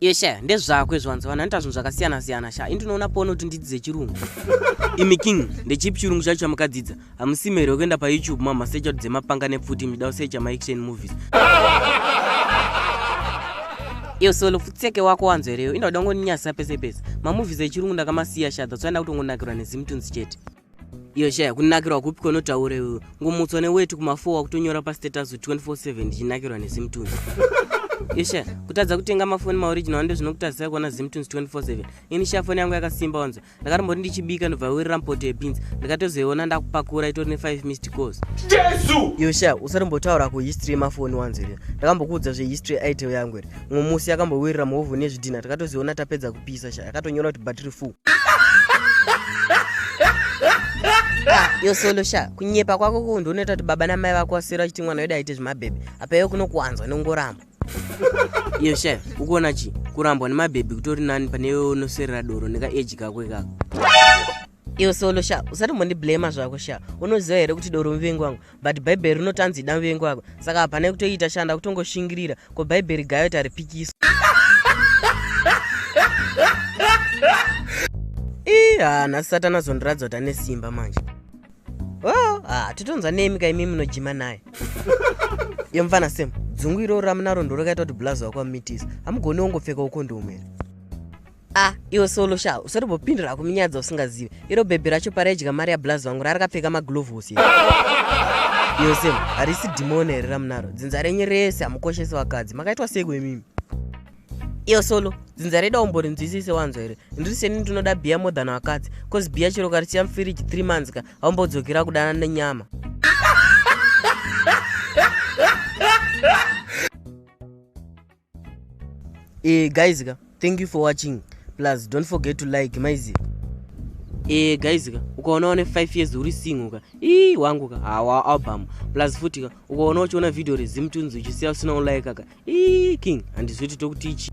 Iye sha ndezvako izvo vanzi vanhu anoita zvinhu zvakasiyana siyana sha ini ndinoona pone kuti ndidzidze chirungu imi king ndechipi chirungu chacho chamukadzidza hamusime here wekuenda payoutube mamasecha kuti dzemapanga nepfuti muchida kusecha maaction movies iyo solo futseke wako wanzo here iyo inda kuda kungoninyasisa pese pese mamovies echirungu ndakamasiya sha that's why ndakutongonakirwa nezimutunzi chete iyo shaya kunakirwa kupi kwonotaura iwe ngomutswa neweti kumafour wakutonyora pastatus 247 ndichinakirwa nezimtunes iyo shaya kutadza kutenga mafoni maoriginal ande zvinokutadzisa kuona zimtunes 247 ini shaya foni yangu yakasimba wanzwa ndakatomboti ndichibika ndobva wirira mpoto yebins ndakatozoiona ndakupakura itori ne5 mist cos jesu iyo shaya usarimbotaura kuhistory yemafoni wanzwa iri ndakambokuudza zvehistory yeitel yangu iri umwe musi yakambowirira muhovhoni yezvidhinha takatoziona tapedza kupisa sha yakatonyora kuti battery full ah, yosolo sha kunyepa kwako ko ndionoita kuti baba namai vako vasira chiti mwana wedu aite zvemabhebhi apa iwe kunokuwanzwa nongoramba iyo sha ukuona chii kurambwa nemabhebhi kutori nani pane iwe unoserera doro nekaeji kako ikako iwe solo sha usatomondiblamer zvako sha unoziva here kuti doro muvengi wangu but bhaibheri rinotanzi ida muvengi wako saka hapana kutoita shanda kutongoshingirira ko bhaibheri gayo taripikiso ii haa nhasi satana zondiratidza kuti ane simba manje o oh, haa titonzwa nemi ka imi munojima naye iyo mfana sem dzungu iroro ramunaro ndorokaita kuti bulazi wako amitisa hamugoni wongopfeka ukondomu here ah iwe solo sha usati bopindura kuminyadza usingazive iro bhebhi racho paraidya mari yablazi vangu rarakapfeka maglovhosi yose harisi dhimoni here ramunaro dzinza renyu rese hamukoshesi vakadzi makaitwa seko imimi iyo solo dzinza reda umbori nzwisise wanzwa here ndiri seni ndinoda bhiya more than vakadzi bcause bhiya chero karisiya mufiriji three months ka haumbodzokera kudana nenyama e guys ka thank you for watching plus don't forget to like maizi e guys ka ukaona wane 5 years uri single ka ii wangu ka hawa album plus futi ka ukaona uchiona video rezimutunzi uchisiya usina ulaika ka ii king handizwi titokuti ichi